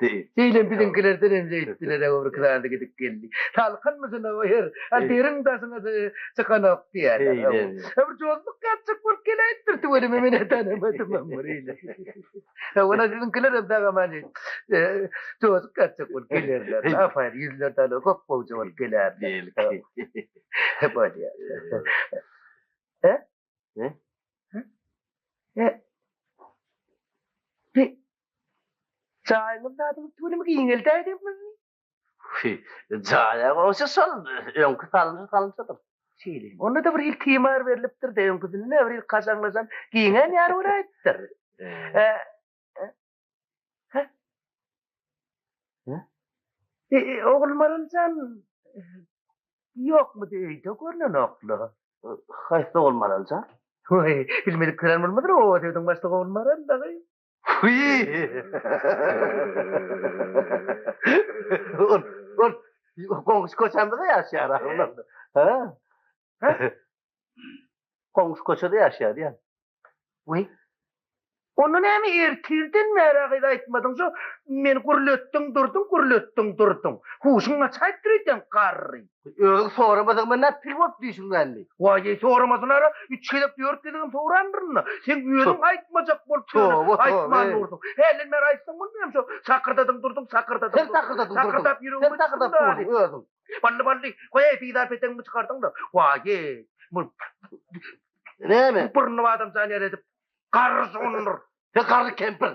Deý. Eýle biziňkilerden hem zeýtdiler-ä öwrüki zady gidip geldi. Salkynmyşyn-a bu her, a deriň daşyna çykanok diýýärler. Eý-le-le. Bir jozluk ýatjak bolup geläýipdir tüweleme men-ä tanamadymam bir eýle. Hawa-la siziňkiler hem sag-aman jozuk ýatjak bolup gelerler. Apaýyn ýüzler dana köp gowja bolup gelerler. Bolýar. Hä? Ne? He. Bi. Çaýymyz dadyň tüwünimi giňeldäý diýip mi? Hi, çaýa goşa şol öňki salynşa salynşadyr. Şeýle. Onda da bir hil timar berlipdir-de, öňküsinde bir hil kaşaňlaşan giňän ýary bolaýypdyr. He. E, e, Ogulmaraljan ýokmudy öýde görnenokla. Haýsy ogul Maraljan? Oý, bilmedik kiren bolmadyr, oba döwdüň başda ogul Maral dagy. Ol, ol goňşy köçämizde ýaşaýar ahyryn onda. Ha? Goňşy köçede ýaşaýardy ýa. Weý. Onda näme ertirden bäri agyz aýtmadyň şu meni gürletdiň durdyň gürletdiň durdyň. Huşuň gaçaýyp dur eýsem garry. Özüň soramadyň men näp pil bolup düýşüň bändi. Waý eý soramasyn ara üç gezek dört gezegem sorandyrynda. Seň özüň aýtmajak bolup ýörüň aýtman durdyň. Hälden bäri aýtsaň bolmaýamy şo sakyrdadyň durdyň sakyrdadyň durdyň. Sen sakyrdadyň durdyň. Sakyrdap ýüregimi. Sen sakyrdadyň durdyň özüň. Bally bally, goýaý pizar petegiňi çykardyň-da, waýý, bu näme? Burny badam jan ýaly edip, garry sugundyr. He, garry kempir.